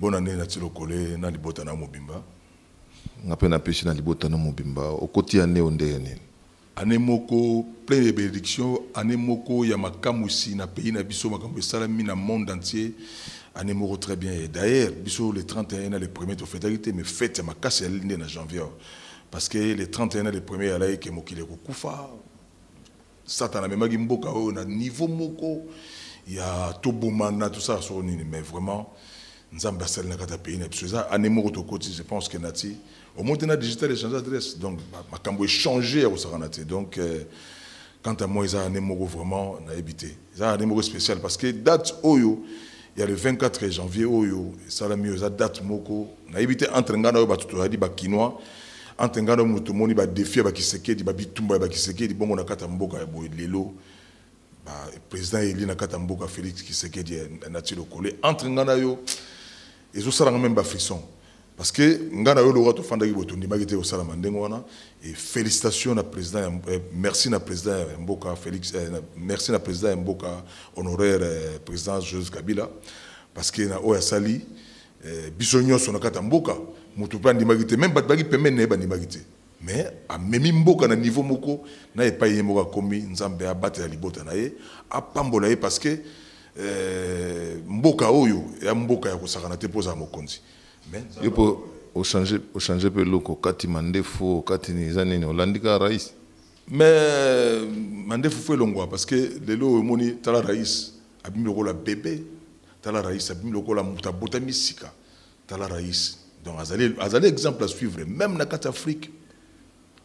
Bonne année na Tilokole na libota na mobimba. Nga pe na pesi na libota na mobimba. Okoti année o ndenge nini? Année moko pleine de benedictions, année moko ya makamwisi na pays na biso, makambo esalami na monde entier. Année moko très bien et d'ailleurs biso le 31 na le premier to fetaki te mais fete ya makasi ezali nde na janvier parce que le 31 na le premier ezalaki ke mokili ekokufa, Satana amemaki mboka oyo na niveau moko ya tobomana tosala soko nini mais vraiment nzambe asali na kati ya pays na biso eza ane moko tokoti je pense que nati omote na digital echange adresse donc makambo echange ya kosakana te donc euh, quant à moi eza ane moko vraiment nayebi te Eza annee moko speciale parce que date oyo ya le 24 janvier oyo esalami oyo eza date moko nayebi te entre ngai na oyo bato toyadi bakinois entre ngai na oyo moto tomoni badefi ya bakisekedi babitumba ya bakisekedi bongo na kati ya mboka ya boye lelo président eli na kati ya mboka félix kisekedi na ti lokole entre ngai na yo Ezo sala nga meme ba frissons. Parce que nga na yo Laura tofandaki boye tondimaki te kosalama ndenge wana et félicitations na président ya eh, merci na président ya mboka Felix eh, na, merci na président ya mboka honoraire eh, président Joseph Kabila parce que na oyo asali eh, biso nyonso na kati ya mboka moto mpe andimaki te meme bato baki pembeni na ye bandimaki te mais amemi mboka na niveau moko na epai ye moko akomi nzambe abatela libota na ye apambola ye parce que euh, mboka oyo ya mboka ya kosakana te mpo ozala mokonzi mais yo mpo ochange ochange mpe eloko okati mandefu okati nini eza nini olandi kaka rais mais mandefu fo elongwa parce que lelo oyo omoni tala rais abimi lokola bebe tala rais abimi lokola moto abotami sika Tala Rais. Donc azali azali exemple à suivre même na kati Afrique.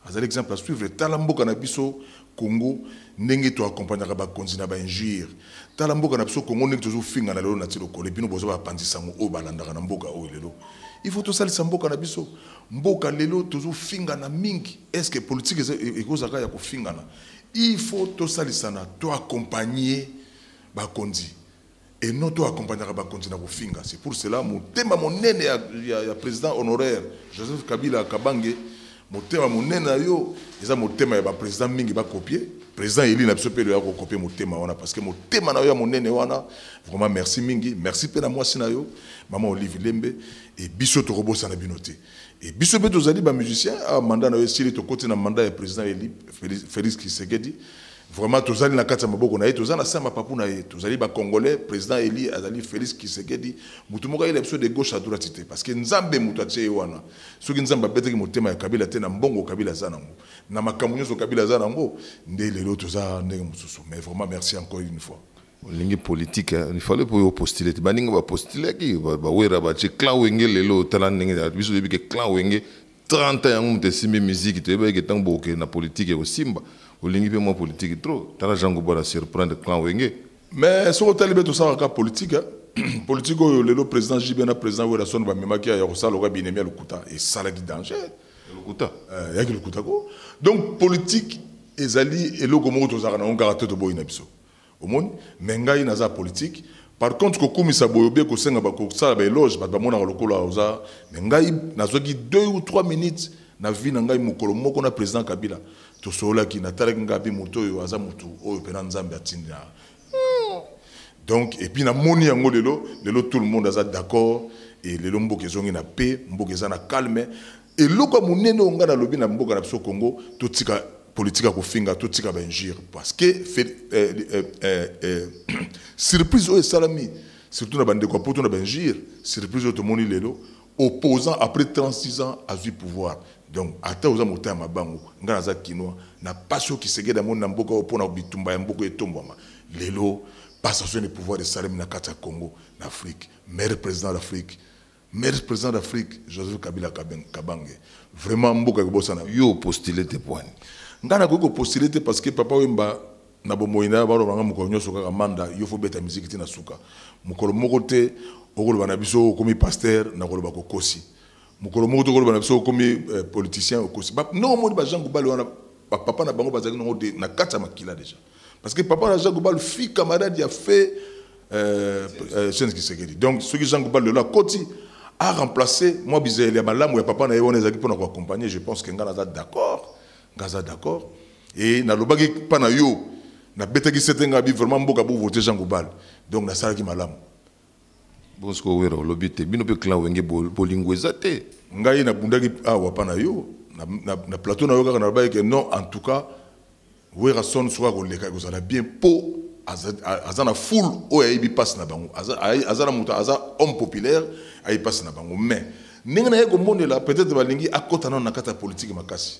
Azali exemple à suivre tala mboka na biso Congo ndenge to accompagner ba konzi na ba injure. Tala mboka na biso Congo ndenge tozo finga na lelo na tilo kole bino bozo ba panzi sango o balandaka na mboka o lelo. Il faut to salisa mboka na biso. Mboka lelo tozo finga na mingi. Est-ce que politique ekozaka ya kofingana? Il faut to salisa na to accompagner ba konzi. et non to accompagnaka bakonzi na kofinga c'est pour cela motema monene ya, ya, ya président honoraire joseph kabila kabange motema monene na yo eza motema ya baprésident mingi bakopie président eli na biso mpe loya kokopie motema wana parce que motema na yo ya monene wana vraiment merci mingi merci mpe na mwasi na yo mama olive lembe e biso tokobosana bino te e biso mpe tozali bamusicien awa ah, manda na yo esili tokoti na manda ya président eli félix kisekedi Vraiment tozali na kati ya maboko na ye toza na sama papu na ye tozali ba congolais président Eli azali Félix Kisekedi mutu moko ayela biso de gauche à droite te parce que Nzambe mutu atie ye wana soki Nzambe abetaki motema ya Kabila te na mbongo Kabila aza nango na makambo nyonso Kabila aza nango nde lelo toza ndenge mosusu mais vraiment merci encore une fois olingi politique hein? il fallait pour postuler te baninga ba postulaki ba wera ba clan wenge lelo tala ndenge biso yebi que clan wenge 30 ans yango moto esimbi miziki toyebaki ke ntango bokokende na politike ekosimba olingi mpe mwa politike trop tala jean gobo na surprendre clan wenge mais soki otali mpe tosalaka kaka politike eh, politike oyo lelo président jb na président werrason bamemaki ya kosala lokola binemi ya lokuta esalaki danger lokuta eh, yaki lokuta ko donc politike ezali eloko moko tozalaka na yango kaka to toboyi na biso Omoni? Mais ngai naza politique. Par contre kokumisa boye oubien kosenga ba kosala ba eloge bato bamonaka lokola oza mais ngai nazwaki deux ou trois minutes na vie na ngai mokolo moko na president Kabila tosololaki natalaki ngai mpe moto oyo aza motu oyo mpena Nzambe atindi na donc epuis namoni yango lelo lelo tout le monde aza d'accord e lelo mboka ezongi na paix mboka eza na calme Eloko ya munene oyo nga na lobi na mboka na biso Congo, to tika politique ya kofinga, to tika ba injure parce que eh, eh, eh, eh, surprise oyo esalami surtout na bandeko ya poto na ba injure, surprise oyo tomoni lelo opposant après 36 ans azui pouvoir donc ata oza mota ya mabango nga naza kinois na pasi oyo kisegede amoni na mboka oyo mpo na bitumba ya mboka etombwama lelo passation de pouvoir esalemi na kati ya congo na afrique maire président d'afrique Merci president d'Afrique Joseph Kabila Kabange vraiment mboka ekobosana yo postule te pwani ngai nakoki kopostule te parce que papa wemba na bomoi na yo baloba ngai mokolo nyonso kaka manda yo fo beta miziki te na suka mokolo moko te okoloba na biso okomi pasteur nakoloba kokosi mokolo moko te okoloba na biso okomi eh, politicien okosi ndenge omoni bajean gubale wana bapapa na bango bazalaki nango na kati ya makila deja parce que papa na zango balu fi camarade ya fait euh, euh, Sens Kisekedi donc soki zango balu lelo akoti a remplacer mwa bizaleli ya malamu ya papa na ye wana ezalaki mpo na koaccompagne je pense que ngai naza d'accord ngai aza d'accord e nalobaki mpa na yo nabetaki sete ngai bi vraiment mboka bovote zango balu donc nasalaki malamu bonsoki owera olobi te bino mpe clan wenge bolingo eza te ngai nabundaki awa mpa na yo na, na, na plateau na yo kaka nalobaki ke non en tout cas Werrason soki ako leka eko zala bien po aza aza na foule oyo ayebi pasi na bango aza aza na moto aza homme populaire ayebi pasi na bango mais ndenge na ye ko monela peut être ba lingi akota nano na kati ya politique makasi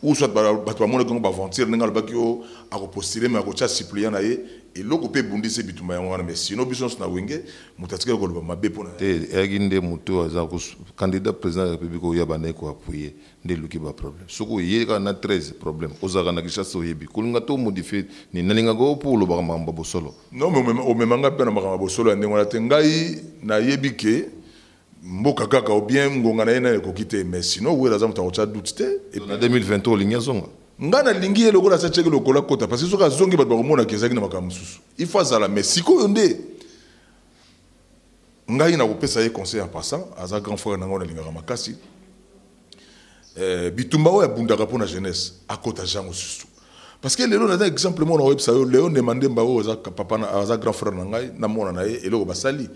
ou soit bato ba monaki yango ba aventure ndenge alobaki yo oh, ako postuler mais ako tia suppléant na ye eloko pe ebundisi bitumba yango wana mais sinon biso na wenge moto atikali koloba mabe pona te eyaki nde moto aza candidat président ya république oyo ya bandaki ko appuyer nde eluki ba problème soki oye kaka na 13 problème ozalaka na kinshasa oyebi kolinga to modifie ni nalingaka yo mpo olobaka makambo ya bosolo non mais omema ngai mpe na makambo ya bosolo ya ndenge wana te ngai nayebi ke mboka kaka ou bien ngonga na ye nayo ekoki te mais sinon wera aza moto akotya doute te na 2023 olingi azonga ngai nalingi ye lokola asa tyaki lokola kota parce que soki azongi bato bakomonaka ezalaki na makambo mosusu il faut azala mais sikoyo nde ngai nakopesa ye conseil en passant aza grand frère na ngai nalingaka makasi eh, bitumba oyo abundaka mpo na jeunesse akota jango susu parce que lelo naza exemple mona oyebisa yo leo ndema ndemba oyo aza papa aza grand frère na ngai na mwana na ye eloko basali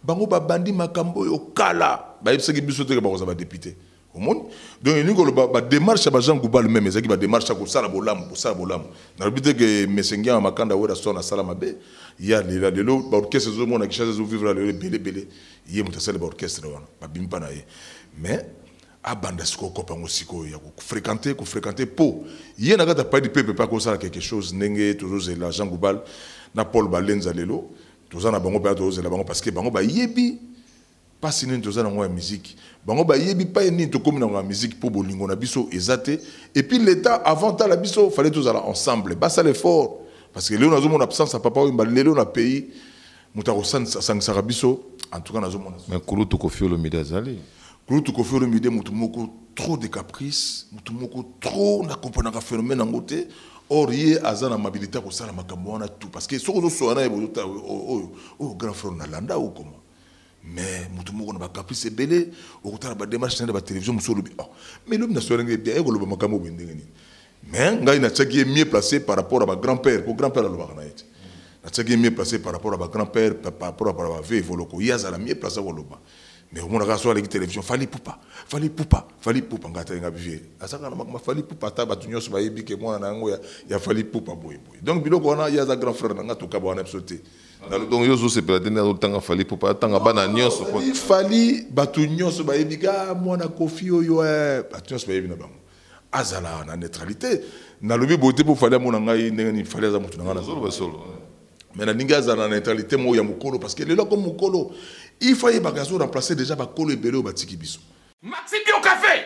bango babandi makambo oyo kala bayebisaki biso teke bakozala badepute omoni donc elingi koloba bademarche ya bajean goubal meme ezalaki bademarche ya kosala bolamu kosala bolamu nalobi te ke mesengia ya makanda weraston asala mabe ye alela lelo baorchestre ezomona kishasa ezovivre lelo ebele ebele ye moto asali baorchestre wana babimi mpa na ye mais abanda sikoyo kopa yango sikoyo ya kofrekante kofrekante mpo ye na kati ya paidi pepe mpe akosala quelque chose ndenge tozozela jean goubal na paul balenza lelo toza na bango mpenza tozozela bango parce que bango bayebi Pasi nini toza nango ya musique bango bayebi paye nini tokomi nango ya musique po bolingo na biso eza te et puis l'etat avant tala biso fallait tozala ensemble basala effort parce que lelo nazo mona absence ya papa wemba lelo na pays moto akosangisaka biso en tout cas nazo mona mais kulutu koffi olomide azali kulutu koffi olomide moto moko trop de caprice moto moko trop na comprenaka phénomène yango te or ye aza na mabilité ya kosala makambo wana tout parce que soki ozosola na ye bozotaa oyo oyo grand frère nalanda oyo comment mais moto moko na bacaprice ebele okotala bademarche na nde batelevision mosusu olobi oh, mais lobi na soirenge eh, bien ekoloba makambo boye ndenge nini mais ngai natiaki ye mieux placé par rapport à bagrand père mpo grand père alobaka na ye te natiaki ye mieux placé par rapport à bagrand père par rapport à bave evoloko ye azala mieux placé koloba mais omonaka so aleki télévision fali pupa fali pupa fali pupa ngai atali ngai bivie azalaka na makama fali pupa ata bato nyonso bayebi ke mwana na yango ya fali pupa boye boye donc biloko wana ye aza grand frère na ngai tokaba wana biso te nanu donc yo ozosepela te nde azotanga fali pupa atanga bana nyonso fali bato nyonso bayebi ka mwana kofi oyo eh, bato nyonso bayebi na bango azala na neutralité nalobi boye te mpo fali amona ngai ndenge nini fali aza moto na ngai nazoloba solo mais nalingi azala na neutralité moko ya mokolo parce que lelo akomi mokolo ifa yebaka azo remplacer déjà bakolo ebele oyo batiki biso maxi bio café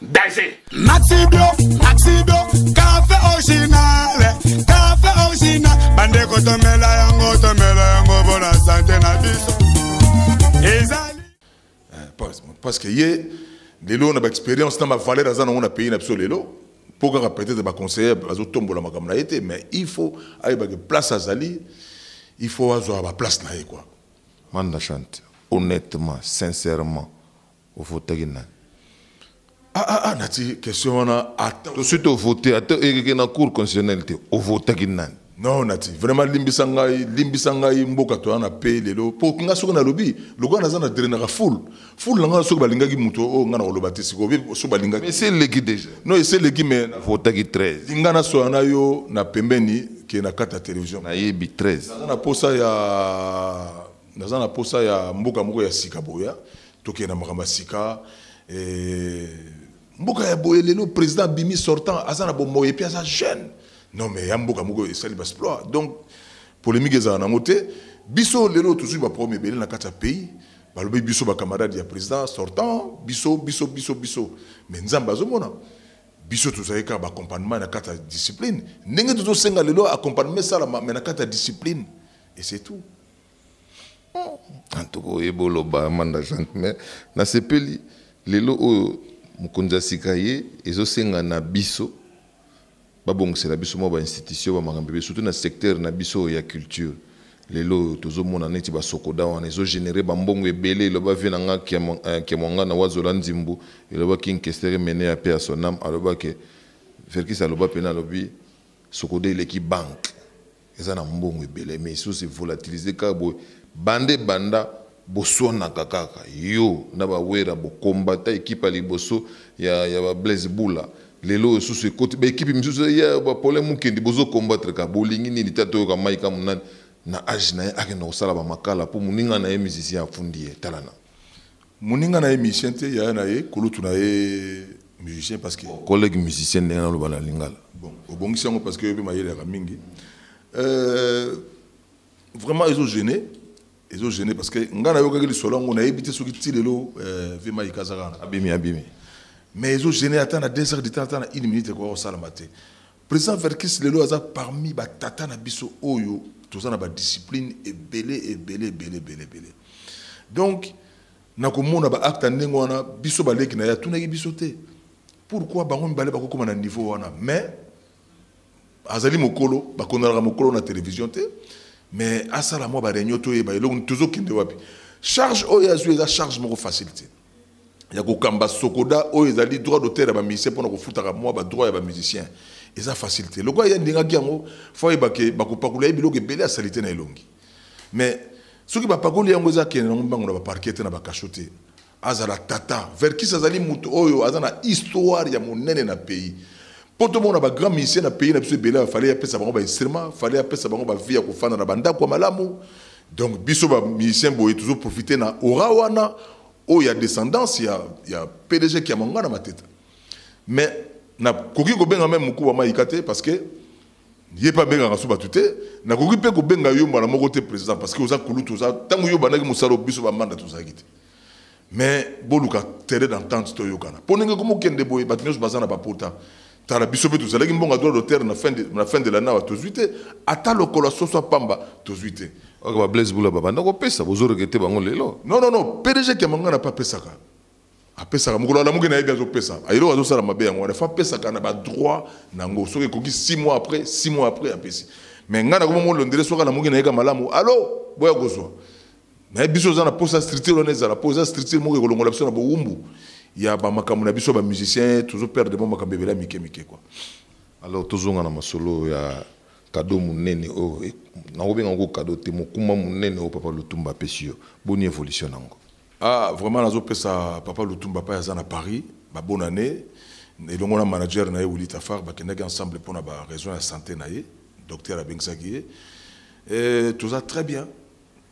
danger maxi bio maxi bio café original café original bandeko tomela yango tomela yango mpo na sante na biso ezali eh, parce que ye lelo na baexpérience na bavaleur aza nango na pays na biso lelo mpo kaka peut-être baconseiller azotombola makambo na ye te mais il faut ayebake place azali il faut azwa baplace na ye quoi manda chante honnêtement sincèrement O votaki nani? Ah ah ah nati question wana ata. To suite o vote ata ekeke na cour constitutionnelle te. O votaki nani? Non nati vraiment limbisa ngai limbisa ngai mboka toya na pe lelo po nga soki nalobi lokola naza na drainaka full full na nga soki balingaki moto oyo nga nakoloba te sikoyo oyebi soki balingaki Mais eseleki deja. non eseleki mais Votaki 13. linga nasola na yo na pembeni ke na kati ya television Nayebi 13. naza na posa ya Naza na posa ya mboka moko ya sika boya tokende na makambo ya sika eh, mboka ya boye lelo président bimi sortant aza na bomoi epuis aza jeune non mais ya mboka moko esali basploit donc polémique ezala nango te biso lelo tozwi baproblème ebele na kati ya pays balobi biso bacamarade ya président sortant biso biso biso biso mais nzambe azomona biso tozali kaka baccompagnement na kati ya discipline ndenge tozosenga lelo accompagnement esalama mais na kati ya discipline et c'est tout en tout cas oyeba oloba amanda jean mais nasepeli lelo oyo mokonzi ya sika ye ezosenga na biso babongisela biso mwa bainstitution bamakambo ebe surtout na secteur na biso oyo ya culture lelo oyo tozomona neti basokoda wana ezogénere bambongo ebele eloba vie na nga kiamwanga eh, na wazola nzimbu elobaki nkestere mene ya pe ya sonam alobaki verkis aloba mpena alobi sokoda eleki banke Eza na mbongo ebele mais esi ose volatiliser kaka boye banda ebanda bosuanaka kaka yo na ba werra bo combata equipe ya liboso ya ya ba blaise bula lelo oyo susu ekoti ba equipe misusu eza ya ba paulin mukendi bozo combattre kaka bolingi nini ta toyoka mike amu nani na age na ye akenda kosala ba makala po moninga na ye musicien afundi ye tala na Muninga na ye musicien te, yaya na ye kulutu na ye musicien parce que collègue musicien ndenge naloba na lingala. Bon, obongisi yango parce que yo pe mayele yaka mingi. Euh, vraiment ezo gêner ezo gêner parce que nga nayokaki lisolo yango nayebi te soki ti lelo euh, vema ikazaka abimi abimi mais ezo gêner ata na 2 heures du temps ata na 1 minute ekoka kosalama te President Verkis lelo aza parmi ba tata na biso oyo toza na ba discipline ebele ebele ebele ebele ebele. Donc na komona ba acte ndenge wana biso ba leki na ya tunaki biso te. Pourquoi bango mibale bakokoma na niveau wana mais azali mokolo bakondalaka mokolo na télévision te mais asala mwa ba réunion toyeba eloko tozokende wapi charge oyo azwi eza charge moko facile te ya kokamba sokoda oyo ezali droit d'auteur ya bamusicien mpona kofutaka mwa badroit ya bamusicien eza facile te lokola ye andingaki yango fo ayeba ke bakopakola ye biloko ebele ya salite na elongi mais soki bapakoli yango eza kende nango mbango na baparke te na bakasho te azala tata verkis azali moto oyo aza na histoire ya monene na pays mpo tomona bagrand musicien na pays na biso ebele fale apesa bango bainstrument fale apesa bango bavie ya kofanda na bandako ya malamu Donc biso ba musiciens boye tozo profiter na aura wana oyo ya descendance ya ya PDG qui a mangana mateta. Mais na koki ko benga même mukua maika te parce que ye pa benga kaso batu te na koki pe ko benga yo mbala moko te président parce que oza kulutu oza tango yo bandaki musalo biso ba manda tozaki te. Mais boluka terrain d'entente toyokana. Po ndenge komo kende boye bato nyonso baza na ba pota. Tala biso pe tozalaki mbongo ya droit d'auteur na fin de na fin de l'année awa tozwi te ata lokolo ya soso ya pamba tozwi te. Ok ba Blaise Bula babanda kopesa bozo regrette bango lelo? Non non non pdg Kiamangana pe apesaka apesaka mokolo alamuki nayebi azopesa eloko azosala mabe yango wana fo apesaka na badroit na yango soki ekoki 6 mois après 6 mois après apesi mais ngai nakomi molondele soki alamuki nayeka malamu alo boya kozwa Mais biso oza na posa structure wana ezala po eza structure moko ekolongola biso na bowumbu ya ba makambo na biso ba musiciens tozo perdre mo makambo ebele mike mike quoi. Alors tozonga na masolo ya cadeau munene oyo oh, nakobenga ngo cadeau te mokumba munene oyo oh, papa Lutumba apesi yo boni evolution nango? Ah vraiment nazo pesa papa Lutumba pa aza na Paris ba bonne année elongo na manager na ye Willy Tafar bakendaki ensemble pona ba raison ya santé na ye docteur abengisaki ye eh, toza très bien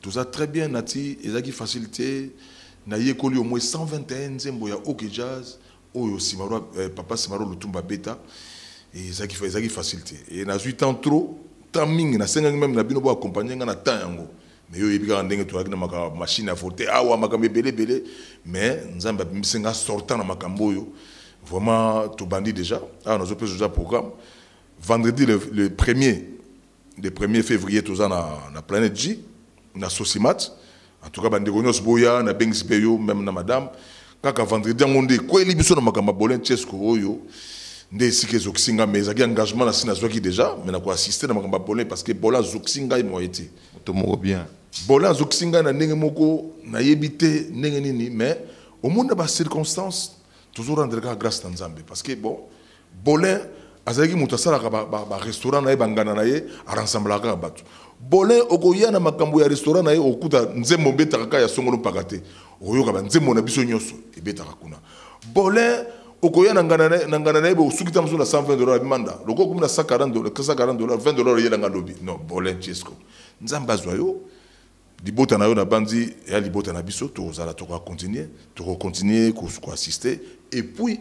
Toza très bien nati ezaki facile te na yekoli au moins 121 nzembo ya OK Jazz oyo Simaro eh, papa Simaro Lutumba beta et ezaki ezaki facile te et nazui temps trop temps mingi nasengaki même na bino bo accompagner nga na temps yango mais yo yebi kaka ndenge tozalaki na makambo machine ya vote awa makambo ebele ebele mais nzambe abimisi nga sortant na makambo oyo vraiment tobandi déjà awa nazopesa oza programme vendredi le, le premier de premier fevrier toza na, na planète j na sosimat en tout cas bandeko nyonso boya na bengisi mpe yo meme na madame kaka vendredi yango nde ekweli biso na makambo ya bolin chesco oyo nde esika ezokisi ngai mais ezalaki engagement na si nazwaki déjà mais na koassiste na makambo ya bolin parce que bola azokisi ngai moye te moto moko bien bola azokisi ngai na ndenge moko nayebi te ndenge nini mais omoni na bacirconstance tozo rendre kaka grâce na nzambe parce que bon Bolin azalaki moto asalaka ba, ba, ba restaurant na ye bangana na ye aransamblaka kaka bato bolin okoya na makambo ya restaurant na ye okuta nzembo obetaka kaka ya songolo mpaka te okoyoka banzembo na biso nyonso ebetaka kuna bolin okoya na ngana na ngana na ye bosuki ntango mosusu na 120 dollars ya manda lokola okomi na 140 dollars 140 dollars 20 dollars eyelanga lobi non bolin chesco nzambe azwa yo libota na yo nabanzi ya libota na biso tokozala tokoakontinue tokokontinue koassiste epuis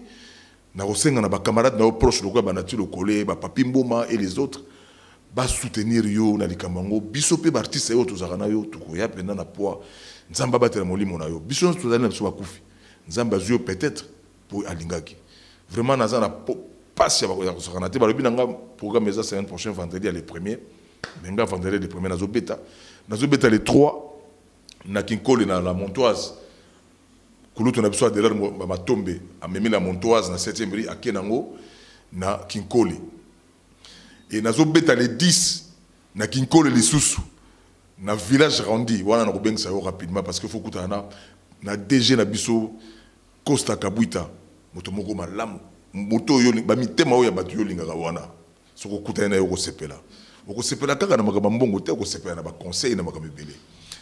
Nakosenga na ba camarades na yo proche lokola ba Naty Lokole, ba Papy Mboma et les autres ba soutenir yo na likambo yango. Biso mpe ba artistes oyo tozalaka na yo tokoya mpenza na poids. Nzambe abatela molimo na yo. Biso nyonso tozali na biso bakufi. Nzambe azwi yo peut etre mpo alingaki. Vraiment naza na mpasi ya ya kosakana te. Balobi na nga programme eza semaine prochaine vendredi ya le premier. Mais nga vendredi ya le premier nazobeta. Nazobeta le 3 na Kinkole na la Montoise. Kulutu na biso Adelard Matombe amemi la Montoise na 7e rue ake nango na Kinkole. Et nazo beta le 10 na Kinkole lisusu na village Randi wana nakobengisa yo rapidement parce que faut kutana na na DG na biso Costa Kabuita moto moko malamu moto yo ba mitema oyo ya bato yo lingaka wana. soki okutani na ye okosepela okosepela kaka na makambo ya mbongo te okosepela na baconseil na makambo ebele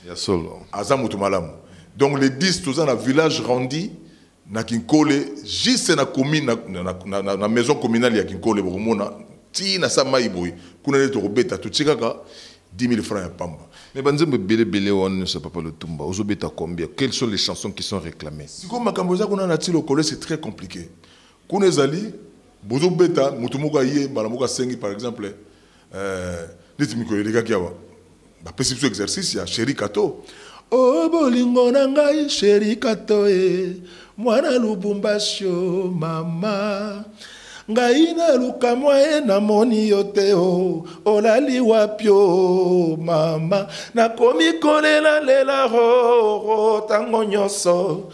ya solo aza moto malamu donc le 10 toza na village randi na kinkole juste na commune na, na, na, na, na maison communale ya kinkole bokomona ti na sa mai boye kuna nde tokobeta totie kaka 10 000 francs ya pamba mais banzembo ebele ebele wana nyonso ya papa lotumba ozobeta combien quelles sont les chansons qui sont réclamées sikoyo makambo eza kuna na ti lokole c'est très compliqué Kuna ezali bozo beta mutu moko aye mbala moko asengi par exemple euh, neti mikolo elekaki awa bapesi biso exercice ya chéri kato o oh, bolingo na ngai chéri kato e mwana lubumbashi o mama ngai naluka mwaye namoni yo te o oh, olali wapi o oh, mama nakomi kolelalela roro ntango nyonso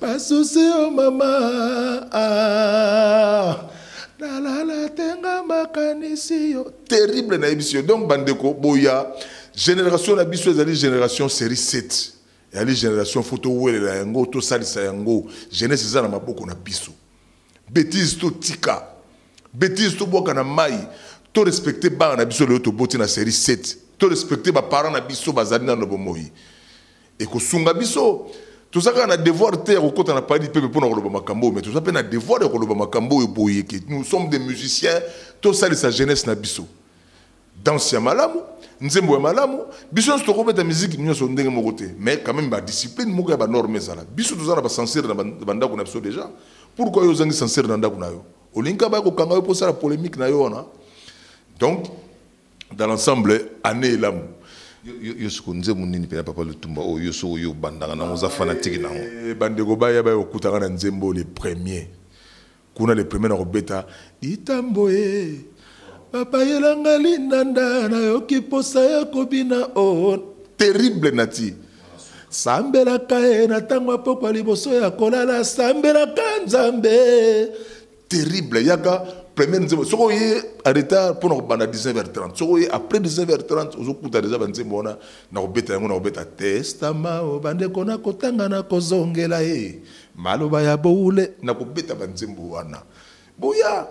basusi yo mama ah. nalala tenga makanisi yo terrible nayebisi yo donc bandeko boya génération na biso ezali génération série 7 ezali génération fo towelela yango tosalisa yango jeunesse eza na maboko na biso bétise totika bétise tobwaka na mai torespecte bana na biso lelo toboti na série 7 torespecte baparent na biso bazali nano bomoi Ekosunga biso. Toza kaka na devoir te ya kokota na palais du peuple mpo na koloba makambo oyo, mais toza mpe na devoir ya koloba makambo oyo boye ke nous sommes des musiciens, tosalisa jeunesse na biso. Danse ya malamu, nzembo ya malamu, biso nyonso tokobeta miziki nyonso ndenge moko te, mais quand même ba discipline moko ya ba norme ezala. Biso toza na ba censure na ba ndako na biso déjà. Pourquoi yo ozangi censure na ndako na yo? Olingi kaka baya kokanga yo mpo osala polemique na yo wana? Donc dans l'ensemble année elamu yo soko nzembo nini mpena papa lutumba oyo yo soko oyo obandaka nango oza fanatike nango eh, bandeko baya baya kokutaka na nzembo le premier kuna le premier na kobeta itambo e babayelanga lindanda nayoki mposa ya kobina o oh, terrible nati sambelaka ye na ntango ya pokwa liboso ya kolala sambelaka nzambe terrible yaka première nzembo soki oye en retard mpo na kobanda 19h30 soki oye après 19h30 ozokuta deja banzembo wana na kobeta yango na kobeta testama o bandeko na kotanga na kozongela ye maloba ya boule na kobeta banzembo wana boya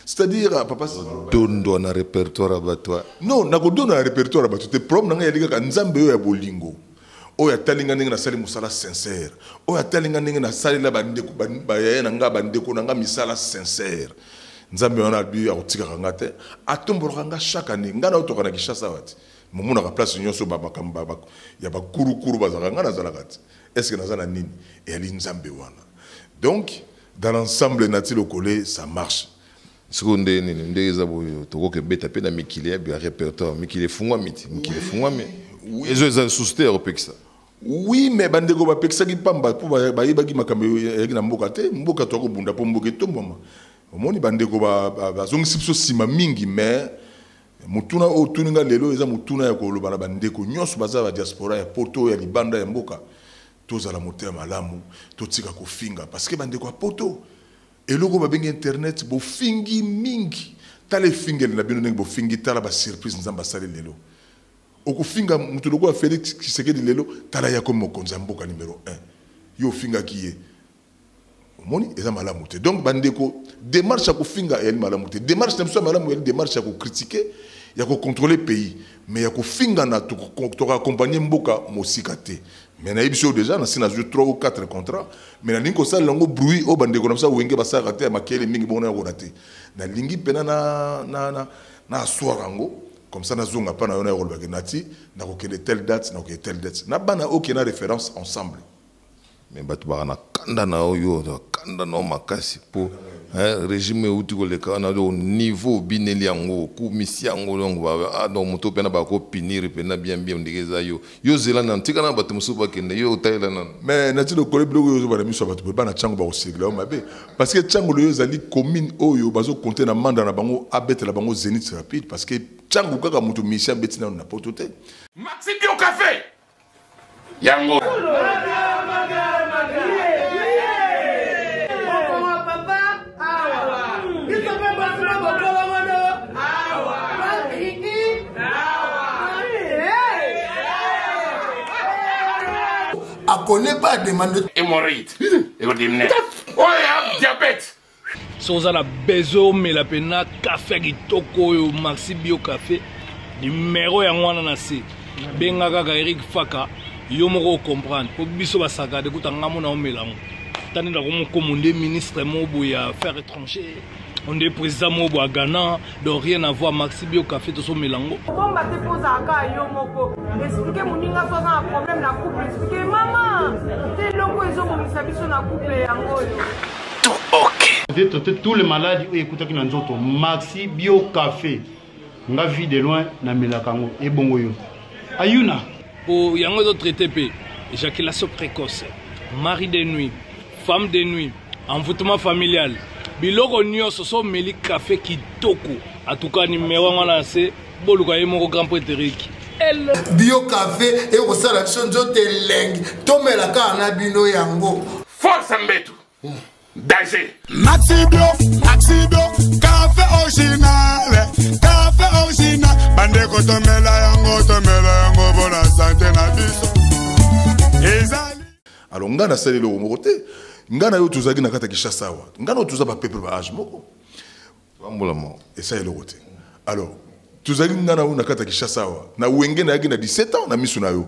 c'est-à-dire euh, papa dondo na répertoire ya bato non nakodonda na répertoire ya bato te problème na ngai yali kaka nzambe oyo ya bolingo oyo atali ngai ndenge nasali mosala sincère oyo atali ngai ndenge nasalela bandeko bayaya na ngai bandeko na ngai misala sincère nzambe wana abi akotikaka ngai te atombolaka ngai chaque année ngai naotoka na kinshasa awa te momonaka place nyonso bamakambo ya bakurukuru bazalaka ngai nazalaka te estce naza na nini eyali nzambe wana donc dans l'ensemble nati lokole ça marche sikoyo nde nini nde eza boyo tokoki kobeta mpe na mikili ya repertoire mikili efungwami ti mikili efungwami ezo eza lisusu te ya kopekisa oui mais bandeko bapekisaki mpamba mpo bayebaki makambo eyaki na mboka te mboka toya kobunda mpo mboka etombwama omoni bandeko bazongisi biso nsima mingi mais motuna oyo otuni nga lelo eza motuna ya koloba na bandeko nyonso baza ba diaspora ya poto oyo ya libanda ya mboka tozala motema malamu totika kofinga parce que bandeko ya poto Eloko oyo babengi internet bofingi mingi tala efingeli na bino ndenge bofingi tala ba surprise nzambe asali lelo okofinga moto lokola Felix Tshisekedi lelo tala yako mokonzi ya mboka numero 1 yo ofingaki ye omoni eza malamu te donc bandeko demarche ya kofinga eyali malamu te demarche na biso ya malamu eyali demarche ya kokritike ya kocontrole pays mais ya kofingana tokoaccompagne mboka mosika te mais nayebisi oyo deja nasi nazwi 3 ou 4 contrat mais nalingi kosalela yango bruit oyo bandeko na biso ya wenge basalaka te ya makele mingi bongo nayakona te nalingi mpena naaswara yango comme ça nazonga mpa na yo nayakolobake nati nakokende telle date nakokende telle date na bana oke na référence ensemble mais bato baka na kanda na yo yo kanda na yo makasi mpo eh, régime euti koleka wana do niveau obineli yango okumisi yango donc ah, moto mpena bakopinire mpena bien bien ondiki eza yo Yo zela nanu tika na bato mosusu bakende yo otalela nanu. Mais nati lokole biloko oyo ozobana miso ya bato boye bana Tshangu bakosegla yo mabe parce que Tshangu loyo ezali commune oyo bazo compter na manda na bango abetela bango Zenith rapide parce que Tshangu kaka moto Messi abeti nanu na poto te. Maxi Bio Cafe yango. connaît pas la demande de... Hémorroïde. Ekodimine. Oh, yeah, diabète. so oza na besoin omela mpena kafe ya kitoko oyo maxi bio kafe nimero yango wana na se benga kaka eric faka yo moko ocomprendre mpo biso basakade kuta nga mona omelango tani na komokomo nde ministre moko boye ya affaire étranger onde président moko boye ya ghana donc rien à voir maxi bio café tosomela yango okomba te mpo ozalaka yo moko explike moninga to aza na problème na couple explike mama te eloko ezobongisa biso na couple yango oyo tout ok tout le maladi oyo ekutaki na nzoto maxi bio café nga vie de loin na melaka yango ebongo yo ayuna po yango ezo traite pe éjaculation précoce mari de nuit femme de nuit envoûtement familial biloko nyonso so omeli kafe kitoko atuka nimero yango na se boluka ye moko grand preteriki bio kafe ekosala biso nzoto elengi tomela kaka na bino yango force mbetu Danger. Maxi Bio, Maxi Bio, café original, café original. Bande kotomela yango, tomela yango, bona santé na biso. Ezali. Alors nga na sali loko moko te. Nga na yo tuzaki na kata Kinshasa wa. Nga na tuza ba peuple ba âge moko. Bambola mo. Esa eloko te. Alors tuzaki nga na yo na kata Kinshasa wa. Na wenge na yaki na 17 ans na misu na yo.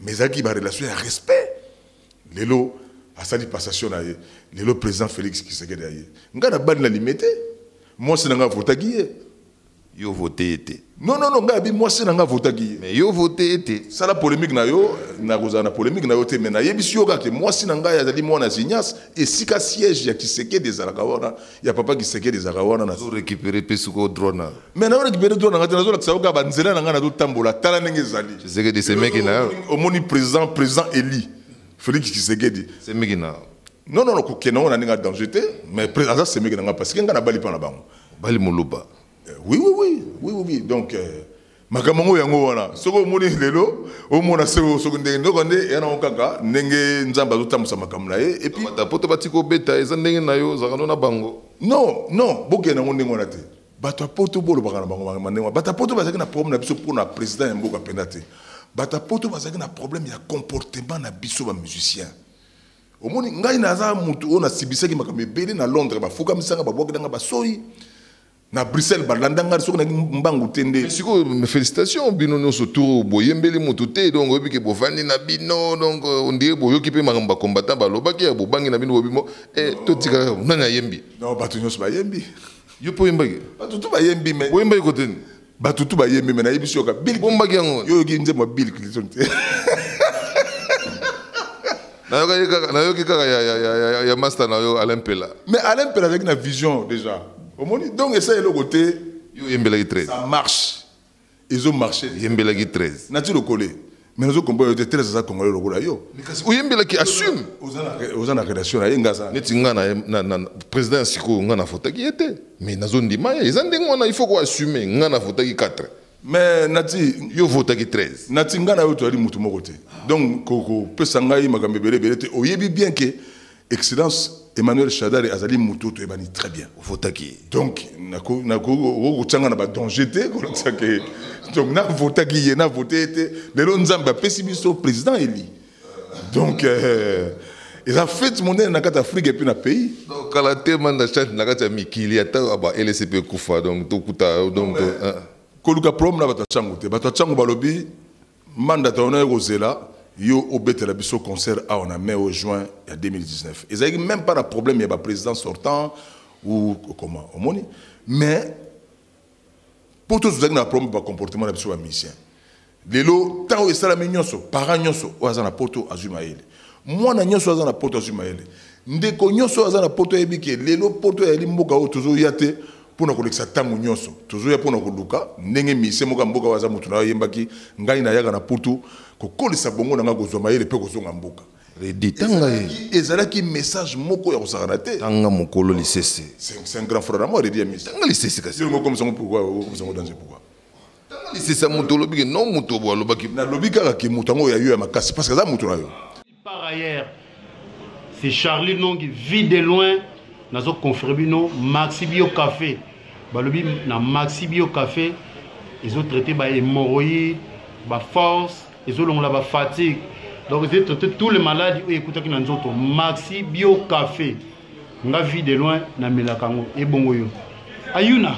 mais ezalaki barelation ya respect lelo asali passation na ye lelo président félix kisekedi aye ngai nabandi na lime te mwasi na ngai avotaki ye yo vote ye te non non non ngai abi mwasi na ngai avotaki ye mais yo vote ye te sala polémique na yo nakozala na polémique na yo te mais nayebisi yo kaka ke mwasi na ngai azali mwana ya zinias esika siège ya kisekedi ezalaka wana ya papa kisekedi ezalaka wana nazo récupérer mpe sikoyo droit na mais nazo récupérer droit na ngai te nazolakisa yo kaka banzela na ngai nazotambola tala ndenge ezali kisekedi semeki na yo omoni président président eli félix kisekedi semeki na non non kokende yango na ndenge ya danger te mais aza semeki na ngai parce que ngai nabali mpa na bango bali moluba eh, oui oui oui oui oui donc euh, makambo yango yango wana soki omoni lelo omona seko soki ndenge ndoka nde eya nango kaka ndenge nzambe azotambwisa makambo na ye epuisata poto batika obeta eza ndenge na yo ozalaka no na bango non non bokende yango ndenge wana te bato ya poto bolobaka na bango ndenge wana bato ya poto bazalaki na problème na biso mpo na président ya mboka mpenza te bato ya poto bazalaki na problème ya comportement na biso bamusicien omoni ngai naza motu oyo nasibisaki makambo ebele na londres bafukamisanga babwaki nanga basoi na bruxelles balanda ngai soki naki mbangu te nde sikoyo félicitation bino nyonso tour boyembeli motu te donc oyebi ke bovandi na bino donc euh, ondire boyoki mpe makambo bacombattant balobaki ya bobangi na bino bobimo eh, totikaka nani ayembi non bato nyonso bayembi yo mpe oyembaki bato tu bayembi me oyembaki koteni bato tu bayembi me nayebisi yoka bilbombaki yango yo oyoki nzembo ya bill clinton te nayokaki kaka nayoki kaka ya, ya, ya, ya, ya master na yo alain pela mais alain pela azalaki na vision déjà omoni donc esa eloko te yo oyembelaki 13 ça marche ezo marche yembelaki 13 nati lokole mais nazo comprendre te 13 aza congolais lokola yo kasi oyembelaki assume oza na relation na ye nga aza neti nga na, na, na président ya sikoyo nga nafotaki ye te mais nazo ndima ye eza ndenge wana il faut koassume nga nafotaki 4 mais nati yo votaki 13 nati ngai na yo toyali motu moko te donc kopesa ngai makambo ebele ebele te oyebi bien ke excellence emmanuel shadari azali motu oyo toyebani très bien ovotaki ye donc okotyanga na badanger te kolakisa ke donc navotaki ye navote ye te lelo nzambe apesi biso président eli donc euh, eza fete monene na kati ya afrike epuis na pays donc kala te manda chante na kati ya mikili ata ba lcp ekufa donc tokuta donc euh. koluka problème na bato ya ntango te bato ya ntango balobi manda taona ye kozela yo obetela biso concert awa na mai o juin ya 2019 ezalaki même pas na problème ya baprésident sortant ou comment omoni mais Poto tozalaki na problème ba comportement na biso ba musicien. Lelo tango esalami nyonso, parents nyonso oyo aza na poto azwi mayele. Mwana nyonso aza na poto azwi mayele. Ndeko nyonso aza na poto ayebi ke lelo poto ezali mboka oyo tozoya te mpo na kolekisa ntango nyonso tozoya mpo na koluka ndenge misie moko ya mboka oyo aza moto na yo ayembaki ngai nayaka na putu kokolisa bongo na ngai kozwa mayele mpe kozonga mboka Reddy, tanga ye. Ezalaki message moko ya kosakana te. Tanga mokolo lisese. C'est un grand frère à moi, Reddy Amis. Tanga lisese kasi. Yo comme ça pourquoi? Comme ça danger pourquoi? Tanga lisese ya moto olobi ke non moto bo alobaki. Na lobi kaka ke moto yango ya yo ya makasi parce que aza moto na yo. Par ailleurs, c'est Charlie Nongi vit de loin nazo confirmer bino Maxi Bio Café. Balobi na Maxi Bio Café ils ont traité ba hémorroïdes, ba force ezolongola ba fatigue donc ezali traite tous les maladies oyo ekutaki na nzoto maxi bio café nga vie de loin namelaka yango ebongo yo ayuna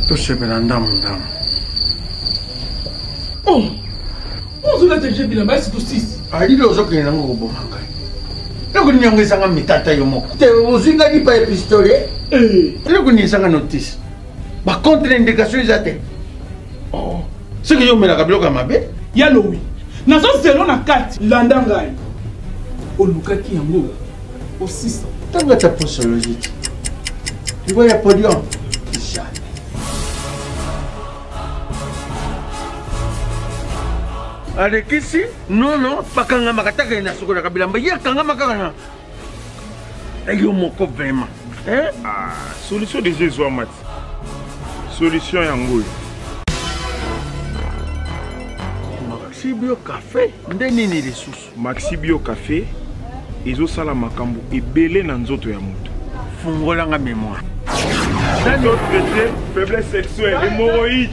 tosepela ndambo ndambo oh, ozolata je bilamba esi tosisi alili ozokende nango koboma ngai eloko nini yango ezanga mitata yo moko te ozwi ngai lipa ya pistole eh. eloko nini ezanga notisi ba contre indication eza te oh. soki yo omelaka biloko ya mabe ya lowi nazo zelo na kati landa ngai olukaki yango osisa ntango ata posologie te libo ya podium alekisi nono bakangamaka taka ye na sokolaka bilamba ye akangamaka kana Eh, yo moko vraiment eh? ah, solution deja ezwama ti solution yango oyo maxibio cafe nde nini lisusu maxibio cafe ezosala makambo ebele na nzoto ya moto fungolanga memoire nani otraite faiblesse sexuelle hemoroïde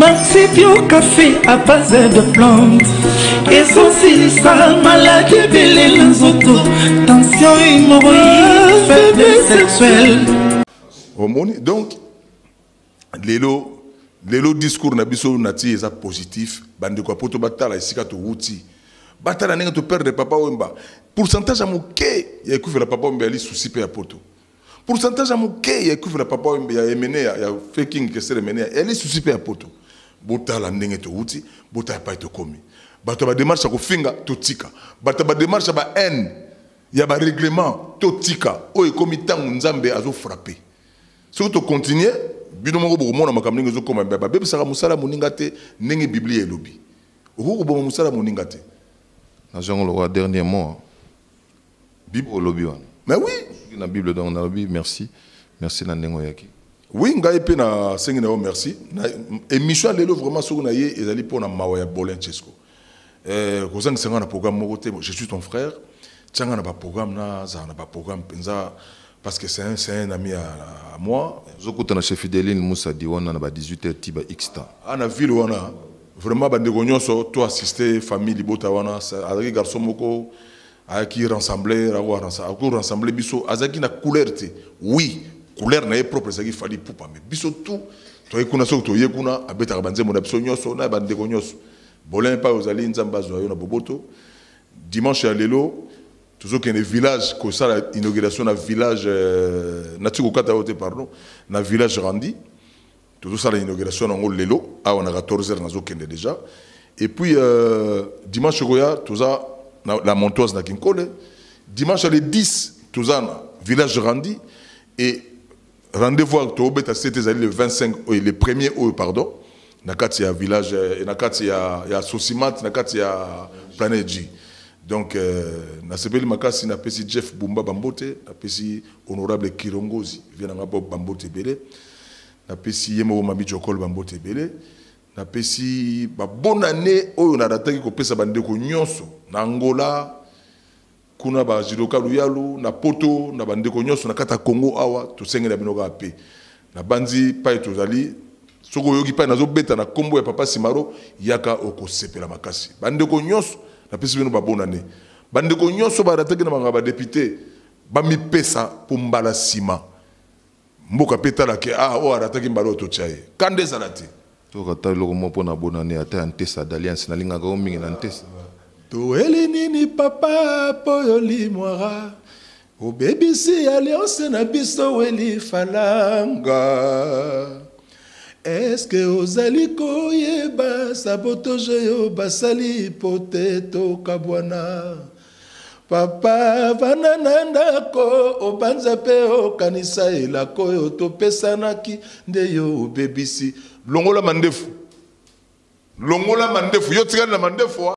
Maxi Bio Café à base de plantes ezosilisa maladi ebele na nzoto tension hémorroïde faiblesse sexuelle omoni donc lelo lelo discours na biso nati eza positif bandeko ya poto batala esika towuti batala ndenge toperdre papa wemba pourcentage ya moke ya ekufela papa wemba yali susi mpe ya poto pourcentage ya moke ya ekufe na papa wembe ya emene ya, ya faking kesere emene ya eli susi mpe ya poto botala ndenge towuti botala epai tokomi bato ya bademarche ya kofinga totika bato ya bademarche ya bahaine ya bareglement totika oyo ekomi ntango nzambe azofrape soki tokontinue bino moko bokomona makambo ndenge ezokoma babebisaka mosala moninga te ndenge biblia elobi okoki koboma mosala moninga te nazwi yango lokola dernier mot Bible olobi wana. Mais oui. Soki na Bible donc na lobi merci. Merci na nengo yaki. Oui, ngai pe na sengi na yo merci. Na émission lelo vraiment soki na ye ezali pona mawa ya Bolin Chesco. Euh, kozanga sanga na programme moko te, je suis ton frère. Tianga na ba programme na za na ba programme penza parce que c'est un, un ami à, à moi. Zokutana chez Fideline Moussa Diwana na ba 18h tiba X temps. Ah na ville wana vraiment bandeko nyonso to assiste famille libota wana azalaki garçon moko ayaki rassembler ako rassembler ako rassembler biso azaki na couleur te oui couleur na ye propre ezalaki fali ipupa mais biso tout toyei kuna soki toye kuna abetaka banzembo na biso nyonso na bandeko nyonso bolin epai ozali nzambe azwa yo na boboto dimanche ya lelo tozokende village kosala inauguration na village euh, nati kokata yo te pardon na village randi Tozo sala inauguration nango lelo awa na 14 heures nazo kende deja. Et puis euh, dimanche koya toza na la montoise na Kinkole. Dimanche le 10 toza na village Randi et rendez-vous avec Tobeta c'était le 25 et le 1er août pardon. Na kati ya village et na kati ya ya Sosimat na kati ya Planet G. Donc euh, na sepeli makasi na pesi Jeff Bumba Bambote, na pesi honorable Kirongozi, vient na Bob Bambote Belé. napesi ye moko mami jokol bambote ebele napesi babonane oyo narataki kopesa bandeko nyonso na angola kuna bazidoka luyalu na poto na bandeko nyonso na kati ya congo awa tosengela bino kaka mpe nabanzi epai tozali soki oyoki epai nazobeta na nkombo ya papa simaro yaka okosepela makasi bandeko nyonso napesi bino babonane bandeko nyonso barataki na bangaba depute bamipesa mpo mbala nsima mboka mpe tala ke ah oyo arataki mbala oyo totya ye kanda ezala te soki ata eloko moko mpo na bonane ata ya ntesa d'alliance nalingaka yo mingi na ntesa toyeli nini papa mpo yo limwara obebisi alliance na biso weli falanga eske ozali koyeba sabotoje yo basali mpo te tokabwana Papa, vanda na ndako, obanza mpe okanisa elako oyo topesanaki, nde yo obebisi. Longola mandefu. Longola mandefu. Yo tikali na mandefu. Wa.